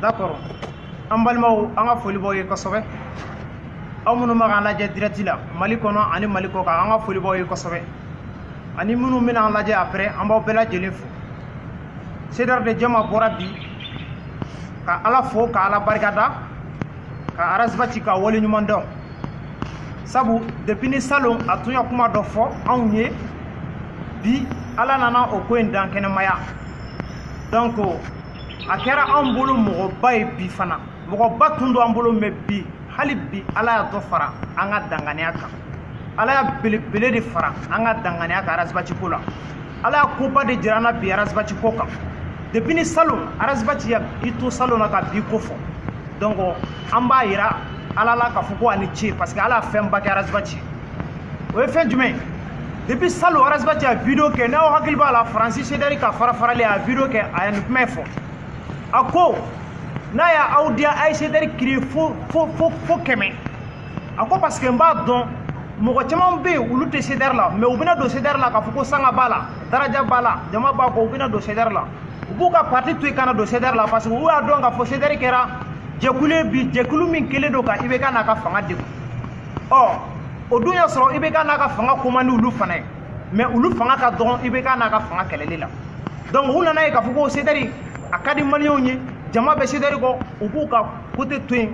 d'accord an balimaw an ka foli b'aw ye kosɛbɛ aw minnu bɛ k'an lajɛ direct la mali kɔnɔ ani mali kɔ kan an ka foli b'aw ye kosɛbɛ ani minnu bɛna an lajɛ après an b'aw bɛɛ lajɛlen fo cdr de jama bɔra bi ka ala fo ka ala barika da ka ras bath ka wale ɲuman dɔn sabu depuis ni salon a tun ye kuma dɔ fɔ anw ye bi ala nana o ko in dankɛnɛmaya donc a kɛra anw bolo mɔgɔba ye bi fana mɔgɔba tun don an bolo mais bi hali bi ala y'a dɔ fara an ka danganiya kan ala y'a belebele de fara an ka danganiya kan ras bath ko la ala y'a koba de jira an na bi ras bath ko kan depuis ni salon ras bath ye i to salon na ka bi ko fɔ donc an b'a yira ala la k'a fɔ ko a ni ce parce que ala y'a fɛnba kɛ ras bath ye o ye fɛn jumɛn depuis salon ras bath a video kɛ n'aw hakili b'a la faransi cdr ka farafarali a video kɛ a ye nin kuma fɔ a ko n'a y'aw diya a ye cdr créer fo kɛmɛ a ko parce que n b'a dɔn mɔgɔ caman bɛ yen olu tɛ cdr la mais u bɛna don cdr la k'a fɔ ko sanga b'a la daraja b'a la jama b'a kɔ u bɛna don cdr la u b'u ka parti to yen ka na don cdr la parce que u y'a dɔn k'a fɔ cdr kɛra jɛkulu ye bi jɛkulu min kɛlen don ka ibk n'a ka fanga degun ɔ o dun y'a sɔrɔ ibk n'a ka fanga ko man di olu fana ye mais olu fanga ka dɔgɔn ibk n'a ka fanga kɛlɛli la donc u nana ye k'a fɔ ko cdr a ka di maliyɛnw ye jama bɛ cdr kɔ u b'u ka côté to yen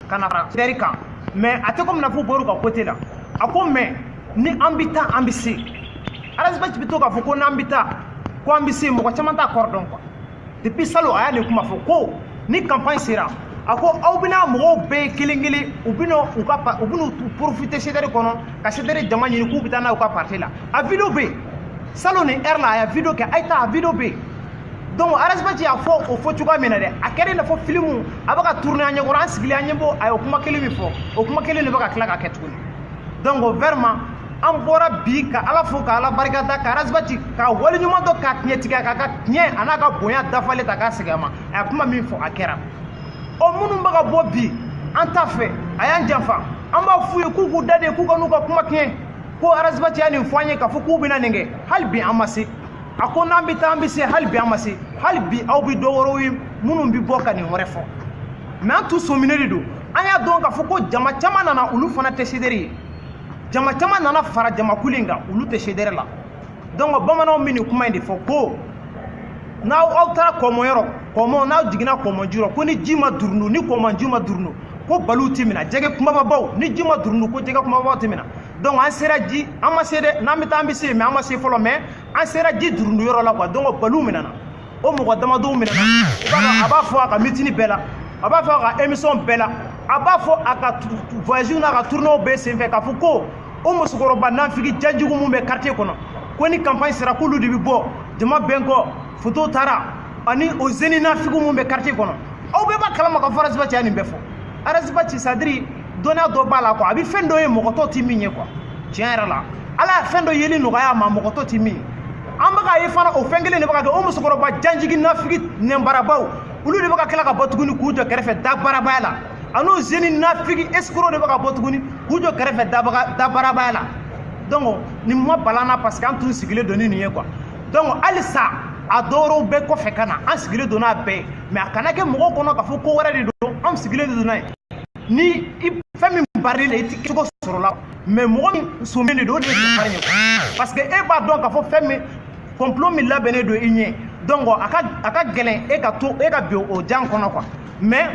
ka na fara cdr kan mais a tɛ comme i n'a f'u bɔr'u ka côté la a ko mais ni an bɛ taa an bɛ se ras bath bɛ to k'a fɔ ko n'an bɛ taa ko an bɛ se mɔgɔ caman t'a kɔrɔ dɔn quoi depuis salon a ye nin kuma fɔ ko ni campagne sera a ko aw bɛna mɔgɔw bɛɛ kelen kelen u bɛna u ka u bɛna profiter cdr kɔnɔ ka cdr jama ɲini k'u bɛ taa n'a ye u ka parti la a video bɛ yen salon nin heure la a ye video kɛ a ye taa a video bɛ yen donc ras bath y'a fɔ o fɔ cogoya min na dɛ a kɛra i n'a fɔ filimu a bɛ ka tourner an ɲɛkɔrɔ an sigilen an ɲɛ b'o a ye o kuma kelen min fɔ o kuma kelen de bɛ ka tila ka kɛ tuguni donc vraiment an bɔra bi ka ala fo ka ala barika da ka ras bath ka wale ɲuman dɔn k'a tiɲɛtigiya k'a ka tiɲɛ a n'a ka bonya dafalen ta k'a segin a ma a ye kuma min fɔ a kɛra o minnu bɛ ka bɔ bi an t'a fɛ a y'an janfa an b'a f'u ye k'u k'u da de k'u kan'u ka kuma tiɲɛ ko ras bath ye nin fɔ an ye k'a fɔ k'u bɛna nin kɛ hali bi an ma se a ko n'an bɛ taa an bɛ se hali bi an ma se hali bi aw bɛ dɔ wɛrɛw ye minnu bɛ bɔ ka nin wɛrɛ fɔ mais an tun sɔminen de don an y'a dɔn k'a fɔ ko jama caman nana olu fana tɛ cdr ye jama caman nana fara jamakulu in kan olu tɛ CDR la donc bamananw bɛ nin kuma in de fɔ ko n'aw taara kɔmɔn yɔrɔ kɔmɔn n'aw jiginna kɔmɔn ji rɔ ko ni ji ma durunu ni kɔmɔn ji ma durunu ko baliw tɛ minɛ jɛgɛ kumababaw ni ji ma durunu ko jɛgɛ kumababaw tɛ minɛ donc an sera ji an ma se dɛ n'an bɛ taa an bɛ se mais an ma se fɔlɔ mais an sera ji durunu yɔrɔ la quoi donc baliw minɛna o mɔgɔ damadɔw minɛna i b'a dɔn a b'a fɔ a ka meeting bɛɛ la a b'a fɔ a ka émission bɛɛ la a b'a fɔ a ka voyage n'a ka tournéew bɛɛ senfɛ k'a fɔ ko o musokɔrɔba nanfigi jajugu min bɛ quartier kɔnɔ ko ni campagne sera k'olu de bɛ bɔ jama bɛn kɔ foto taara ani o jeune nafigiw min bɛ quartier kɔnɔ aw bɛɛ b'a kalama k'a fɔ Ras Bath ye nin bɛɛ fɔ Ras Bath c'est-à-dire dɔnniya dɔ b'a la quoi a bɛ fɛn dɔ ye mɔgɔ tɔ tɛ min ye quoi tiɲɛ yɛrɛ la ala ye fɛn dɔ yeli nɔgɔya a ma mɔgɔ tɔ tɛ min ye an bɛ k'a ye fana o fɛn kelen de bɛ ka kɛ o musokɔrɔba janjigi nafigi nɛnbarabaw olu de bɛ ka tila ka bɔ tuguni k'u jɔ kɛrɛfɛ dabarabaya la an'o jeune nafigi escroc de bɛ ka bɔ tuguni k'u jɔ kɛrɛfɛ dabarabaya la donc nin ma bala an na parce que an tun sigilen don ni nin ye quoi donc halisa a dɔwɛrɛw bɛ kɔfɛ ka na an sigilen don n'a bɛɛ ye mais a kana kɛ mɔgɔw kɔnɔ k'a fɔ ko wɛrɛ de don anw sigilen de don n'a ye ni fɛn min barila i la i tɛ cogo sɔrɔ a la mais mɔgɔ min sɔmin de don o de ye bari ye parce que e b'a dɔn k'a fɔ fɛn min complot min labɛnnen don i ɲɛ donc a ka a ka gɛlɛn e ka to e ka bin o jan kɔnɔ quoi mais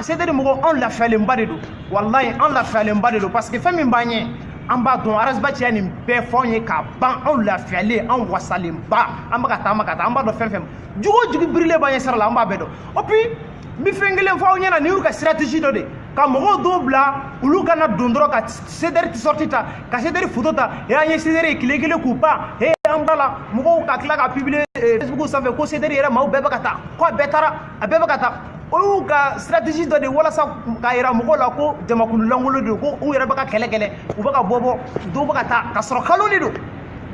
CDR mɔgɔw anw lafiyalenba de don walayi anw lafiyalenba de don parce que fɛn min b'an ɲɛ an b'a dɔn Ras Bath ye nin bɛɛ fɔ anw ye k'a ban anw lafiyalen anw wasalenba an bɛ ka taama ka taa an b'a dɔn fɛn fɛn jugu o jugu birilen b'an ɲɛ sira la an b'a bɛɛ dɔn et puis n bɛ fɛn kelen fɔ aw ɲɛna nin y'u ka stratégie dɔ de ka mɔgɔw dɔw bila olu ka na don dɔrɔn ka CDR t-shirt ta ka CDR foto ta e an ye CDR ye tile kelen k'u ban e an bɔr'a la mɔgɔw ka tila ka publier eh, facebook sanfɛ ko CDR yɛrɛ maaw bɛɛ bɛ ka taa ko a bɛɛ taara a bɛɛ bɛ ka taa o y'u ka stratégie dɔ de walasa k'a yira mɔgɔw la ko jamakulu lankolon de don ko u yɛrɛ bɛ ka kɛlɛ kɛlɛ u bɛ ka bɔ bɔ dɔw bɛ ka taa ka sɔrɔ kalon de don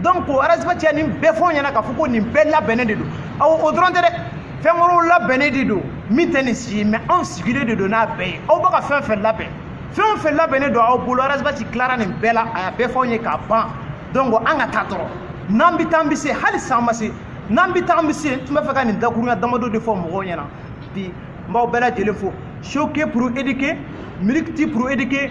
donc Ras Bath ye nin bɛɛ fɔ an ɲɛna k'a fɔ ko nin bɛɛ labɛnnen de don aw o dɔrɔn tɛ dɛ fɛn wɛrɛw labɛnnen de don min tɛ nin si ye mais anw sigilen de don n'a bɛɛ ye aw bɛ ka fɛn fɛn labɛn fɛn o fɛn labɛnnen don aw bolo Ras Bath tilara nin bɛɛ la a y'a bɛɛ fɔ anw ye k'a ban donc an ka taa dɔrɔn n'an bɛ taa an bɛ se hali san ma se n'an bɛ taa an bɛ se n tun bɛ fɛ ka nin dakurunya damadɔ de fɔ mɔgɔw ɲɛna bi n b'aw bɛɛ lajɛlen fo choquer pour éduquer miliki pour éduquer